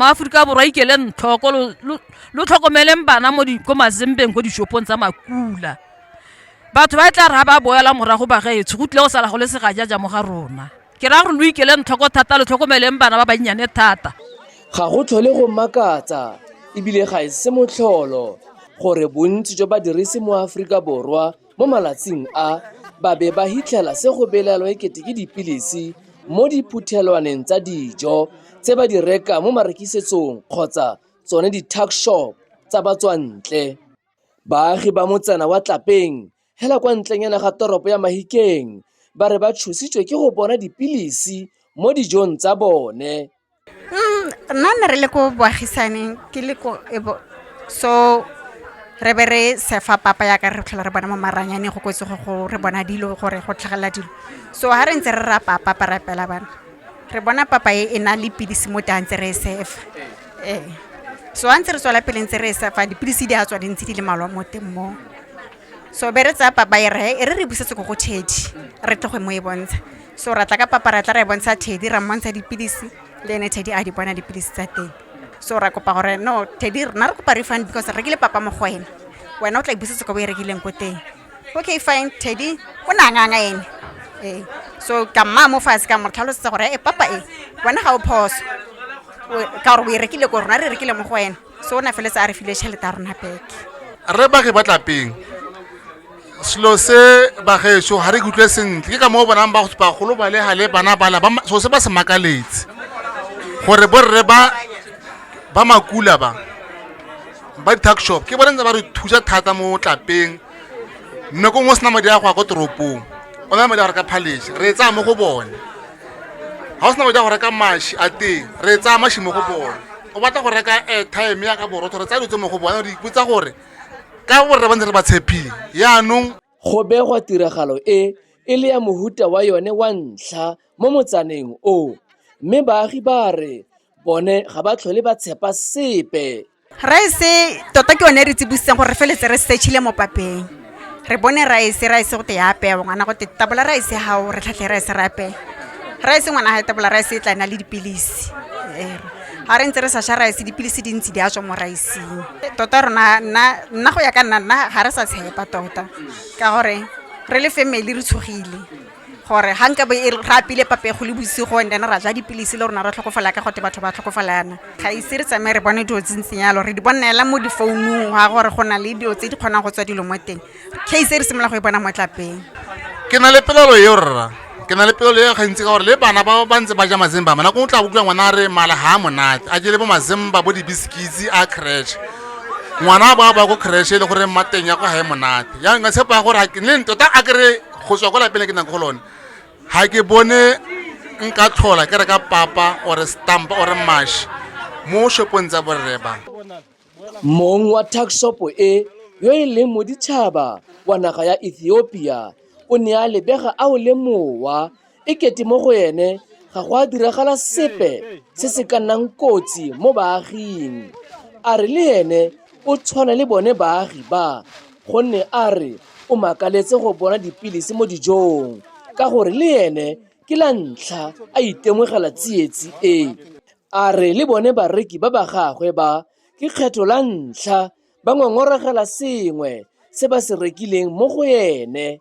maaforika borwa ikeleng tlhoko lo tlhokomeleng bana mo ko mazembeng ko dishopong tsa makula batho ba e tla re ga ba boela morago ba gaetsho go tlile go sala go le segajaja mo ga rona ke raya gore lo ikeleng tlhoko thata lo tlhokomeleng bana ba bannyane thata ga go tlhole go makatsa ebile ga e se motlholo gore bontsi jwa badirisi mo aforika borwa Mo malatsing a, ba be ba hitlhela se go belaelwa e kete ke dipilisi mo diphuthelwaneng tsa dijo tse ba di rekang mo marekisetsong kgotsa tsone di-tuck shop tsa batswantle. Baagi ba motsana wa Tlapeng hela kwa ntlenyana ga toropo ya Mahikeng ba re ba tshositswe ke go bona dipilisi mo dijong tsa bone. Mm, nna ne re le ko boagisaneng ke le ko so re be re sefa papa ya ka re tlhola re bona mo maranyane go kwetse go re bona dilo gore go tlhagelela dilo so ga re ntse re ra papa pa rapela bana re bona papa e e na le pidisi mo tang tse re e sefa ee so a ntse re tswela pele ntse re e sefa dipilisi di a tswa dintsi di le malwa mo teng moo So be re tsaya papa e re e re re busetse ko go Teddy re tle go mo e bontsha. So ra tla ka papa ra tla ra e bontsha Teddy ra mmontsha dipilisi le ene Teddy a di bona dipilisi tsa teng. So ra kopa gore no Teddy rena re kopa refund because re rekile papa mo go wena, wena o tla e busetse ko bo e rekileng ko teng. Okay fine Teddy o ne a nganga ene ee. So ka mmaya mo fatshe ka mo tlhalosetsa gore e papa e wena ga o phoso ka gore o e rekile ko rona re e rekile mo go wena. so o na feletse a re file tšhelete ya rona beke re ba re batlapeng selo se bageso ga re kutlwe sentle ke ka moo bonang bagolo ba le gale bana bala so se ba se makaletse gore borre ba ba makula ba ba di-tuck shop ke bone ntse ba re thusa thata mo tlapeng mme ko ngwe sena madi a go ya ko toropong o na madi a go reka phalese re tsaya mo go bone ga o sena madi a go reka mashi a teng re tsaya mashi mo go bone o batla go reka airtime ya ka borotho re tsaya dilo tse mo go bona re ipotsa gore ka borre ba ntse re ba tshepile yaanong go begwa tiragalo e e le ya mohuta wa yone wa ntlha mo motsaneng o mme baagi ba re bone ga ba tlhole ba tshepa sepe raese tota ke yone e re tsibositseng gore re feletse re setšhile mo papeng re bone rice rice go te ya apeya ngwana go te tabola rice ya gago re tlhatlhe rice re apeya rice ngwana ga e tabola rice e tla na le dipilisi ga re ntse re sa sha rice dipilisi di ntse di a tswa mo riceng tota rona nna go ya ka nna nna ga re sa tshepa tota ka gore re le family re tshogile gore ga nka e re apile papego le bosigo and then ra ja dipilisi le rona ra tlhokofala ka gote batho ba tlhokofalana ga ise re tsamaye re bone dilo tsentseng yalo re di bonela mo difounung ga gore go na le dilo tse di kgonang go tswa dilo mo teng case e re simolola go e bona mo tlapeng ke na le pelelo eo rra ke na le pelelo eo gantsi ka gore le bana ba ba ntse ba ja mazemba mana ko o tla bokutlwa ngwana a re mala ga a monate a jele bo mazemba bo dibisikitsi a crash ngwana ba ba ko crash e le gore mateng ya kwa ga e monate ya nka tshepa gore le tota a kry go tswa kwa lapeng le ke nang go lone ga ke bone nka tlhola ke reka papa ore stampa ore mash mo shopong tsa borre ba mong wa tuckshopo e yo e leng moditšhaba wa naga ya ethiopia o ne a lebega a o le mowa e kete mo go ene ga go a diragala sepe se se ka nnang kotsi mo baaging a re le ene o tshwana le bone baagi ba gonne a re o makaletse go bona dipilisi mo dijong ka gore le ene ke la ntlha a itemogela tsietsi e a re le bone bareki ba ba gagwe ba ke kgetho la ntlha ba ngongorogela sengwe se ba se rekileng mo go ene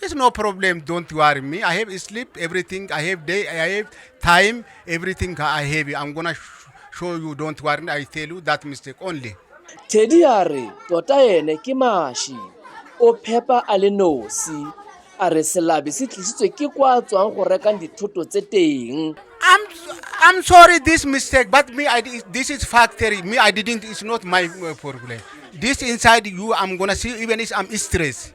It's no problem. Don't worry me. I have sleep, everything. I have day. I have time. Everything I have. I'm gonna sh- show you. Don't worry. I tell you that mistake only. Teddy a re tota ene ke mashi o phepa a le nosi a re selabe se tlisitswe ke kwa tswang go rekang dithoto tse teng I'm I'm sorry this mistake, but me I di- this is factory. Me I didn't. It's not my uh, problem. This inside you, I'm gonna see even if I'm stressed.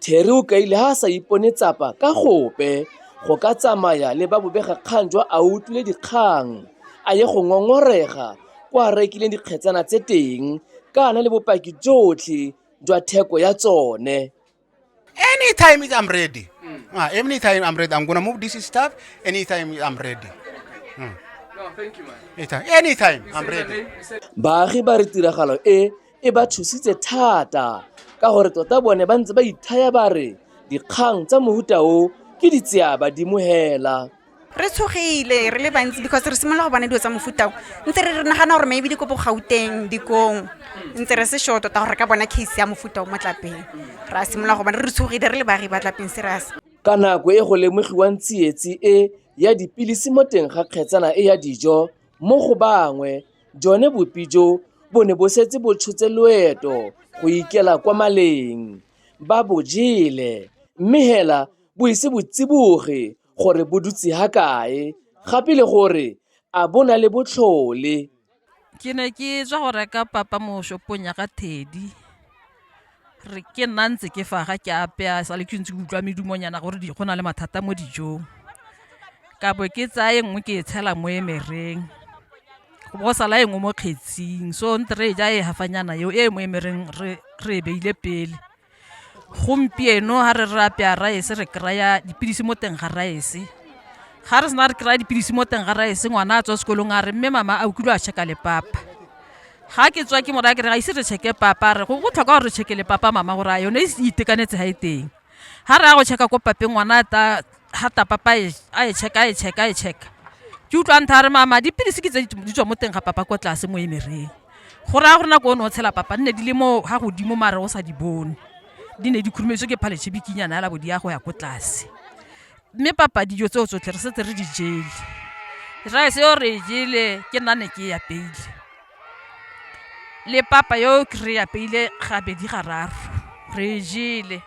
Terry o kaile ha a sa ipone tsapa ka gope go ka tsamaya le ba bobegakgang jwa a utlwile dikgang a ye go ngongorega kwa a rekileng dikgetsana tse teng ka a na le bopaki jotlhe jwa theko ya tsone anytime I'm ready mm. uh, anytime I'm ready I'm gonna move this stuff anytime I'm ready mm. no, thank you, man. anytime, anytime I'm ready baagi ba re tiragalo e e ba tshositse thata ka gore tota bone ba ntse ba ithaya ba re dikgang tsa mohuta o ke ditseya badimo hela re tshogile re le bantsi because re simolola go bona dilo tsa mofutao ntse re re nagana gore maybe di ko bogauteng dikong ntse re se sure tota gore re ka bona case ya mofutao mo tlapeng re a simolola go bona re tshogile re le baagi ba tlapeng serious ka nako e go lemogiwang tsietsi e ya dipilisi mo teng ga kgetsana e ya dijo mo go bangwe Jone bopi jo bo ne bo setse bo tshotse loeto go ikela kwa maleng. Ba bo jele, mme hela bo ise bo tsiboge gore bo dutse ha kae, gape le gore a bo na le botlhole. Ke ne ke tswa go reka papa mo shopong ya ga Teddy. re ke nna ntse ke fa ga ke apea sa le ke ntse ke utlwa medumonyana gore di go na le mathata mo dijong ka bo ke tsaya e nngwe ke e tshela mo emereng go bo sala e nngwe mo kgetsing so nte re e ja e hafanyana eo e mo emereng re e beile pele gompieno ga re re apea raese re kry-a dipilisi mo teng ga raese ga re sena re kry-a dipilisi mo teng ga raese ngwana a tswa sekolong a re mme mama a o kile a check-a le papa ga ke tswa ke mo raya ke re ga ise re checke papa re go botlhokwa gore re checke le papa mama gore a yone e itekanetse ga e teng ga re ya go checka ko papeng ngwana ta ga ta papa e, a e checka a e checka a e checka ke utlwa ntha re mama dipilisi ke tse di tswa mo teng ga papa kwa tlase mo emereng go raya gore nako o ne o tshela papa nne di le mo ga godimo mare o sa di bone di ne di khurumeditswe ke phaletshe bikinyana ya labo di ya go ya ko tlase mme papa dijo tseo tsotlhe re setse re di jele rice yo re e jele ke nna ne ke e apeile le papa yo ke re e apeile gabedi gararo re e jele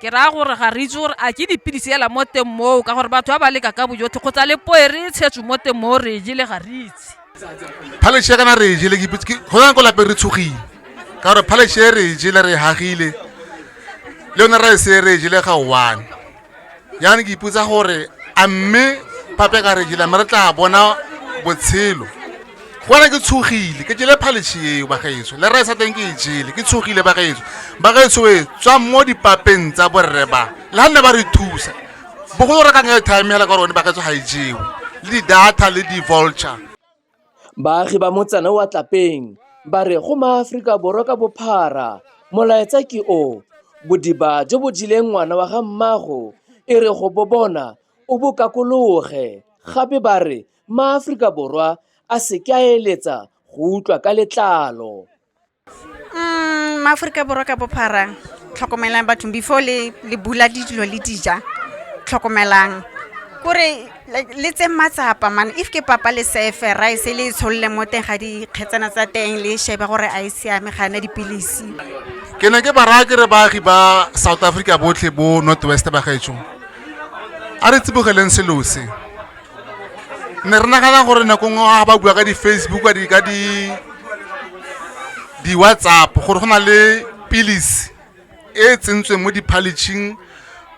ke raya gore ga re itse gore a ke dipilisi ela mo teng moo ka gore batho ba ba leka ka bojotlhe kgotsa le poe re e tshetso mo teng moo re e jele ga re itse phaleshe kana re e jele ke ipitse ke- go yana ko lapeng re tshogile ka gore phaleshe e re e jele re e hagile le yone rice e re e jele ga one yana ke ipotsa gore a mme pape ka regila mme re tla bona botshelo gona ke tshogile ke jele phalishi eo bagaetso le resa teng ke e jele ke tshogile bagaetso bagaetso e tswa mo dipapeng tsa borre ba le ga nne ba re thusa bogolo re ka nka time hela ka rone bagaetso ga e jewe le di-data le di-vulture Baagi ba motsana wa Tlapeng ba re go maAforika Borwa ka bophara molaetsa ke o, bodiba jo bo jeleng ngwana wa ga mmaago e re go bo bona o bo kakologe, gape ba re maAforika Borwa a se ke a eletsa go utlwa ka letlalo. mm, maaforika borwa ka bophara tlhokomelang bathong before le le bula dilo le dija tlhokomelang kore like le tse matsapa man if ke papa le sefe rice le e tsholole mo teng ga dikgetsana tsa teng le e shebe gore a e siame ga ena dipilisi ke ne ke bara ke re baagi ba south africa botlhe bo north west bagaetsho a re tsibogeleng selo se ne re nagana gore nako nngwe ga ba bua ka di-facebook ka di ka di di-whatsapp gore go na le pilisi e e tsentsweng mo diphaletšhing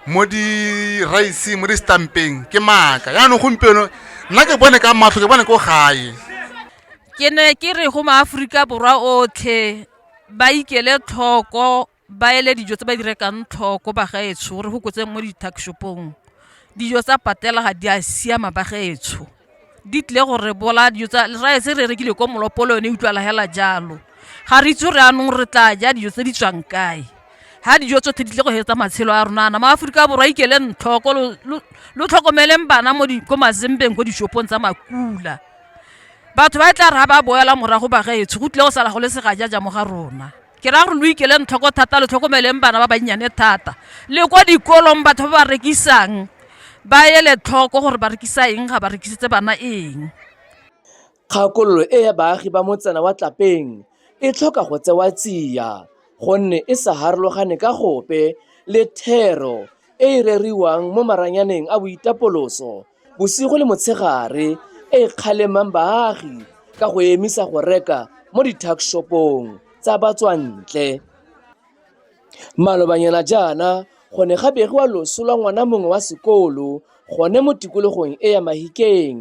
mo di-rice mo di-stampeng ke maaka yaanong gompieno nna ke bone ka matlho ke bone ko gae ke ne ke re go maaforika borwa otlhe ba ikele tlhoko ba ele dijo tse ba di rekang tlhoko bagaetsho gore go kotseng mo di-tuckshopong dijo tsa patela ga di a siama bagaetsho di tlile gore bola dijo tsa rae se re rekile ko molopolo yone e utlwala hela jalo ga re itse gore anong re tla ja dijo tse di tswang kae ha dijo tsotlhe di tle go hetsa matshelo a rona nama aforika borwa ikele ntlhoko lo tlhokomeleng bana mo ko mazembeng ko dishopong tsa makula batho ba e tla re ga ba boela morago bagaetsho go tlile go sala go le segajaja mo ga rona ke raya gore lo ikeleng tlhoko thata lo tlhokomeleng bana ba bannyane thata le kwa dikolong batho ba ba rekisang ba ele tlhoko gore ba rekisa eng ga ba rekisetse bana eng kgakololo e ya baagi ba motsana wa tlapeng e tlhoka go tsewa tsia gonne e sa harologane ka gope le thero e e reriwang mo maranyaneng a boitapoloso Bosigo le motshegare e e kgalemang baagi ka go emisa go reka mo di-tuckshop-ong tsa batswantle. Malobanyana jaana go ne ga begiwa loso lwa ngwana mongwe wa sekolo gone mo tikologong e ya Mahikeng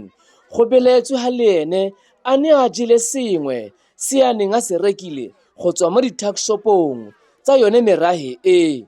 go belaetswe ha le ene a ne a jele sengwe se a neng a se rekile go tswa mo di-tuckshop-ong tsa yone merahe e.